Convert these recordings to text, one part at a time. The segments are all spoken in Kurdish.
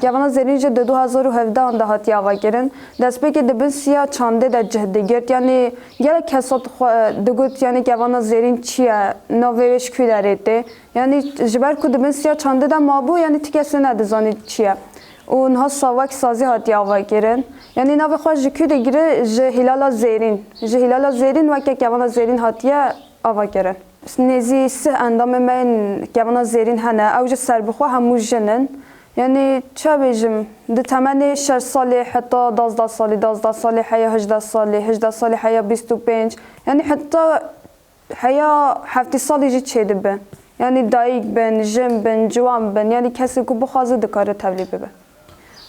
Kevana Zerîn jî di du hezar û hevdeh an de hatiye avakirin. Destpêkê di bin siya çandê de cih digirt. Yanî gelek kes hat xwe digot yanî Kevana Zerîn çi ye, navê wê ji kû derê tê. Yanî ji ber ku di bin siya çandê de mabû yanî ti kesê nedizanî çi ye. Û niha sawek sazî hatiye avakirin. Yanî navê xwe ji kû digire ji Hîlala Zerîn. Ji Hîlala Zerîn weke Kevana Zerîn hatiye avakirin. Nêzî sih endamên me yên Kevana Zerîn hene. Ew jî serbixwe hemû jin in. Yanî ça bêjim, di temenê şeş salê heta dazdeh salî, dazdeh salê heya hijdeh salî, hijdeh salê heya bîst û pênc, yanî heta heya heftî salî jî çêdibe. Yanî dayîk bin, jin bin, ciwan bin, yanî kesê ku bixwaze dikare tevlî bibe.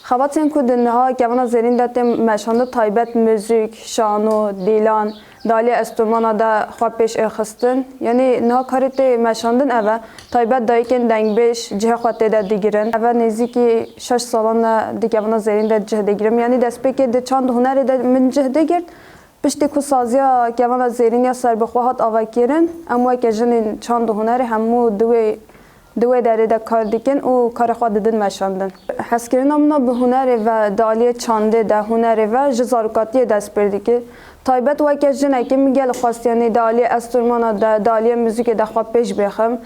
Xebatên ku di niha kevana zêrîn de tên meşandin taybet, muzîk, şano, dîlan, Dalê estomana de xwe pêş ê xistin. Yanî niha karê tê meşandin ev e. Taybet dayikên dengbêj cihê xwe tê de digirin. Ev nêzîkî şeş salan e di kevana zerîn de cih digirim. Yanî destpêkê di çand hunerê de min cih digirt. Piştî ku saziya kevana zerîn ya serbixwe hat avekirin, em weke jinên çand û hunerê hemû di wê Di wê derê de kar dikin û karê xwe didin meşandin. Hezkirina min a bi hunerê ve di aliyê çandê de hunerê ve ji zarokatiyê dest pê dike. Taybet weke jinekê min gelek xwestiyenî di aliyê estormana de, di aliyê muzîkê de xwe pêş bixim.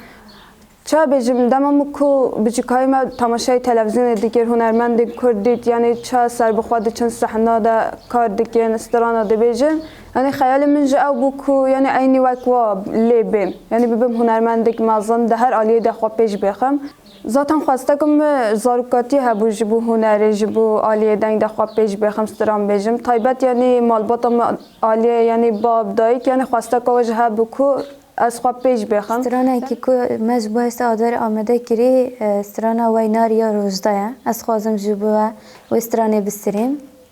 Çawa bêjim dema min ku biçûkayî me temaşayê televîzyonê dikir hunermendên kurd dît yanî çawa serbixwe diçin sehna de kar dikin, strana dibêjin. Yanî xeyalê min jî ew bû ku yanî eynî wek we lê bêm. Yanî bibim hunermendek mezin, di her aliyê de xwe pêş bixim. Zaten xwesteke min zarokatiyê hebû ji bo hunerê, ji bo aliyê deng de xwe pêş bixim, stran bêjim. Taybet yanî malbata me aliyê yanî bab, dayik yanî xwesteke we jî hebû ku ez xwe pêş bixim. Stranekî ku me ji bo hêsta Adarê amade kirî strana Weynarî ya Rojda ye. Ez dixwazim ji bo we wê stranê bistirîm.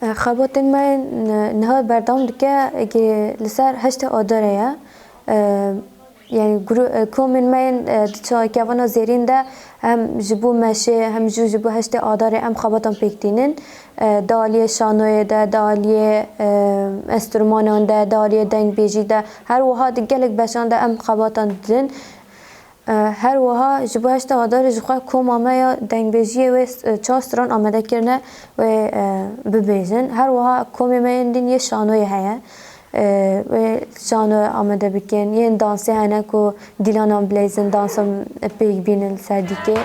Xebatên me niha berdewam dike eke li ser heştê adare ye. Yanî komên me yên di çavkevana zêrîn de hem ji bo meşê hem jî ji bo heştê adarê em xebatan pêk tînin. Di aliyê şanoyê de, di aliyê enstrûmanan de, di aliyê dengbêjî de her wiha di gelek beşan de em xebatan didin. Her wiha ji bo heşta Adarê ji xwe koma me ya dengbêjiyê wê çar stran amade kirine wê bibêjin. Her wiha komê me yên din yê şanoyê heye. Wê şano amade bikin. Yên dansê hene ku dîlanan bileyzin, dansa pêk bînin li ser dîkê.